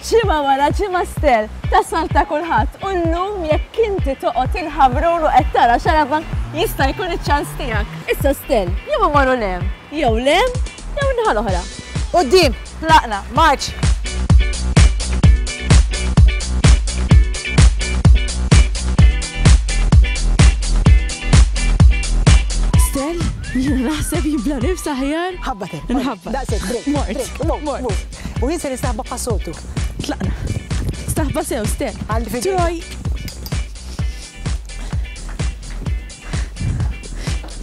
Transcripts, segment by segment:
ċima wara ċima stel, tasal ta' kulħadd u llum jekk inti toqgħod il-ħabrun u qed tara xaraba jista' jkun iċ-ċans tiegħek. Issa stel, jew imorru lem, jew lem, jew inħal oħra. Qudiem, tlaqna, marċ! Jiena naħseb jibla nifs aħjar. Ħabba te. Nħabba. Daqsek, break. Mort. Mort. U jinsa li staħba passotu. Tlaqna. Staħba sew, ste. Għalli fidej. Troj.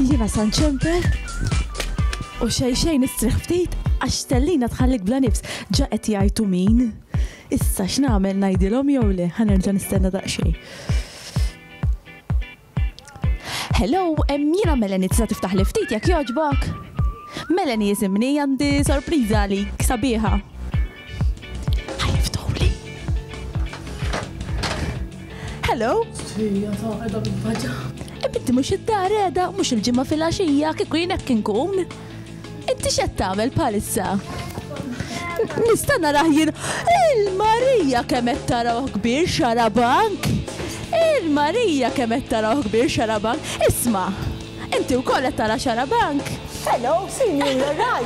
Jiena san ċempel. U xej xej nistriħ ftit għax tellina tħallik bla nifs. Ġa qed jgħajtu min. Issa x'nagħmel ngħidilhom jew le ħanerġa' nistenna daqsxejn. Hello, em, jiena Melanie tista' tiftaħ li ftit jekk jogħġbok? Melanie jisimni għandi sorpriża għalik sabiħa. Ħajftuli. Hello? Sija ta' edha bil-faġa. Ebinti mux id-dar edha, mux il-ġimma fil-axija, kiku jinek kinkun. Inti x'qed tagħmel bħalissa? Nista' narah jien il-Marija kemm qed tarawh kbir xarabank. Il-Marija kemm qed tarawh kbir xarabank. Isma', inti wkoll qed tara xarabank? Hello, sinjur, you're right.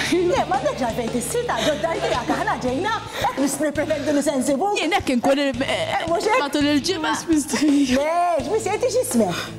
Le, ma għandekx għalfejn tissita, ġoddar tiegħek aħna ġejna, hekk biss nippretendu li se nsibu. Jien hekk inkun eh, eh, matul il-ġimgħa. Le, x'miss jgħid x'ismek?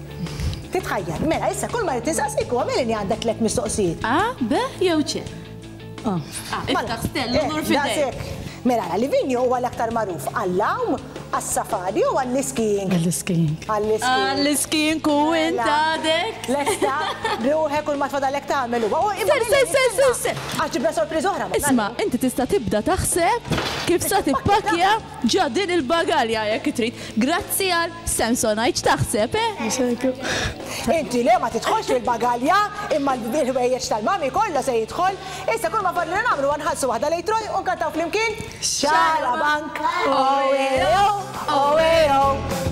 Titħajjar. Mela, issa kull ma rrid insaqsik huwa mela li għandek tliet mistoqsijiet. A, B jew C. A. Ah, mela, Iftaħ stell u nur eh, fidejk. daqshekk. Mela, li vinju huwa l-aktar magħruf għall-lawm, għas-safari u għall-iskijing. Għall-iskijing. Għall-iskijing. Għall-iskin ku Mela. intadek. Lesta, ruħek u l-matfa dalek tagħmel huwa. U imma Ser, ser, lili, ser, ser, ser. Għax ġibna sorpriż oħra. ma Isma, nagħmlu. inti tista' tibda taħseb kif sa tippakja Ġa din il-bagalja jekk trid. Grazzi għal Samsonite x'taħseb, eh? Inti le ma tidħolx fil-bagalja imma l-ħwejjeġ tal-mami kollu se jidħol. Issa kull ma fadlilna nagħmlu huwa nħallsu waħda lejn Troy u nkantaw flimkien Xarabank! Oe-o, oe-o.